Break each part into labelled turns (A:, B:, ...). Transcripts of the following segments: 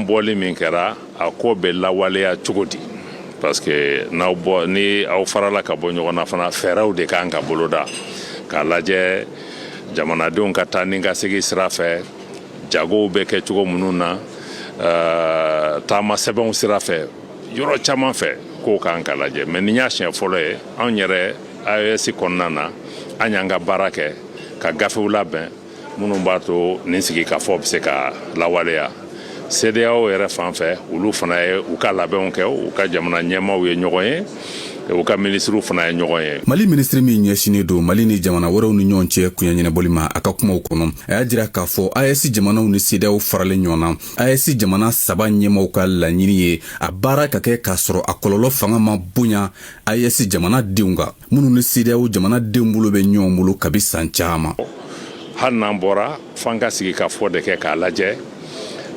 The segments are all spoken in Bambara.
A: bɔli min kɛra a ko bɛ lawaleya cogo di parce que n'aw bɔ ni aw farala ka bɔ ɲɔgɔn na fana fɛɛrɛw de kan ka boloda k'a lajɛ jamanadenw ka taa ni ka segin sira fɛ jagow bɛ kɛ cogo minnu na uh, taama sɛbɛnw sira fɛ yɔrɔ caman fɛ kow kan ka lajɛ mais nin y'a siɲɛ fɔlɔ ye anw yɛrɛ AES kɔnɔna na an y'an ka baara kɛ ka gafew labɛn minnu b'a to nin sigikafɔ bɛ se ka lawaleya CEDEAO yɛrɛ fan fɛ olu fana ye u ka labɛnw kɛ u ka jamana ɲɛmaaw ye ɲɔgɔn ye u ka minisiriw fana ye ɲɔgɔn ye mali minisiri min ɲɛsinnen
B: don mali ni jamana wɛrɛw ni ɲɔgɔn cɛ koɲa ɲɛnabɔli ma a ka kumaw kɔnɔ a y'a jira k'a fɔ AES jamanaw ni CEDEAO faralen ɲɔgɔn na AES jamana saba ɲɛmaaw ka laɲini ye a baara ka kɛ k'a sɔrɔ a kɔlɔlɔ fanga ma bonya AES jamana denw kan minnu ni CEDEAO jamana denw bolo bɛ ɲɔgɔn bolo kabi san caman. Hali
A: n'an bɔra f'an ka sigikafɔ de kɛ k'a lajɛ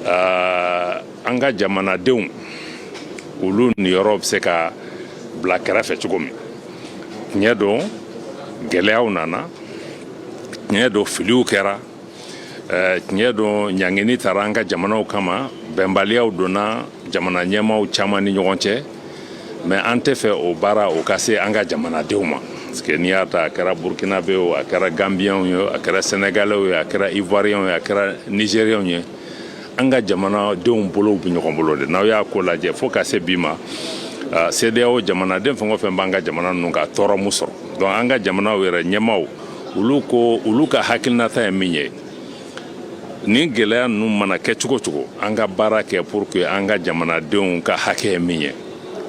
A: uh, an ka jamanadenw olu niyɔrɔ bɛ se ka bila kɛrɛfɛ cogo min tiɲɛ don gɛlɛyaw nana tiɲɛ don filiw kɛra eh, tiɲɛ don ɲangini tara an ka jamanaw kama bɛnbaliyaw donna jamana ɲɛmaaw caman ni ɲɔgɔn cɛ mais an tɛ fɛ o baara o ka se an ka jamanadenw ma parce que n'i y'a ta a kɛra burkinabew a kɛra gambiyɛnw ye a kɛra sɛnɛgalɛw ye a kɛra ivoiriyɛnw ye a kɛra nigériyɛnw ye an ka jamanadenw bolow bɛ ɲɔgɔn bolo de n'aw y'a ko lajɛ fo ka se bi ma ah, CEDEAO jamanaden fɛn o fɛn b'an ka jamana ninnu na tɔɔrɔ m'u sɔrɔ donc an ka jamanaw yɛrɛ ɲɛmaaw olu ko olu ka hakilinata ye min ye nin gɛlɛya ninnu mana kɛ cogo cogo an ka baara kɛ pour que an ka jamanadenw ka hakɛ ye min ye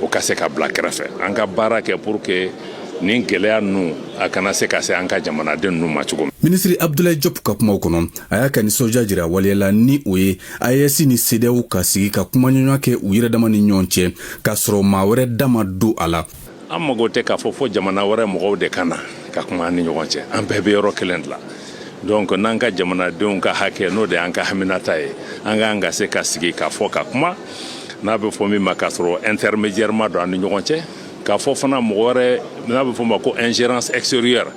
A: o ka se ka bila kɛrɛfɛ an ka baara kɛ pour que nin gɛlɛya ninnu a kana se ka se an ka jamanaden ninnu ma cogo min. minisiri abdulayi
B: jɔp ka kumaw kɔnɔ a y'a ka nisɔndiya jira waleya la ni o ye AES ni CEDEAO ka sigi ka kumaɲɔgɔnya kɛ u yɛrɛ dama ni ɲɔgɔn cɛ k'a sɔrɔ maa wɛrɛ da ma don a la an mago tɛ k'a
A: fɔ fo jamana wɛrɛ mɔgɔw de ka na ka kuma an ni ɲɔgɔn cɛ an bɛɛ bɛ yɔrɔ kelen de la donc n'an ka jamanadenw ka hakɛ n'o de y'an ka haminata ye an kan ka se ka sigi ka fɔ ka kuma n'a bɛ fɔ min ma k'a sɔrɔ intermédiaire ma don an ni ɲɔgɔn cɛ k'a fɔ fana mɔgɔ wɛrɛ n'a bɛ fɔ ma ko ingérence extérieure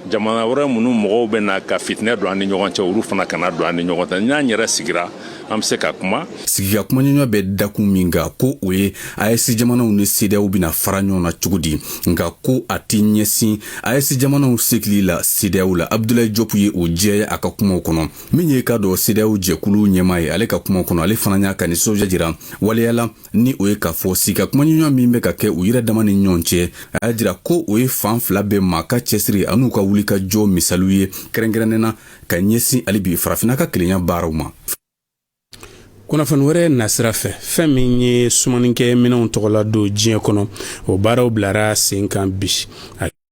A: jamana wɛrɛ minnu mɔgɔw bɛ na ka fitinɛ don an ni ɲɔgɔn cɛ olu fana kana don an ni ɲɔgɔn cɛ n'an yɛrɛ sigira an bɛ se ka kuma sigi ka kumaɲɔgɔnya
B: bɛ dakun min kan ko o ye AES jamanaw ni CEDEAO bɛna fara ɲɔgɔn na cogo di nka ko a tɛ ɲɛsin AES jamanaw segili la CEDEAO la abdulayi jɔpu ye o jɛya a ka kumaw kɔnɔ min ye k'a dɔn CEDEAO jɛkulu ɲɛmaa ye ale ka kumaw kɔnɔ ale fana y'a ka nisɔndiya jira waleya la ni o ye k'a fɔ sigi ka kumaɲɔgɔnya min bɛ ka kɛ u yɛrɛ dama ni ɲɔgɔn cɛ a y'a jira ko o ye fan fila bɛɛ maa ka cɛsiri an'u ka wulikajɔ misaliw ye kɛrɛnkɛrɛnnen na ka ɲɛsin hali bi farafinna ka kelenya baaraw
C: ma kunnafoni wɛrɛ nasira fɛ fɛn min ye sumanikɛ minɛnw tɔgɔla don diɲɛ kɔnɔ o baaraw bilara sen kan bi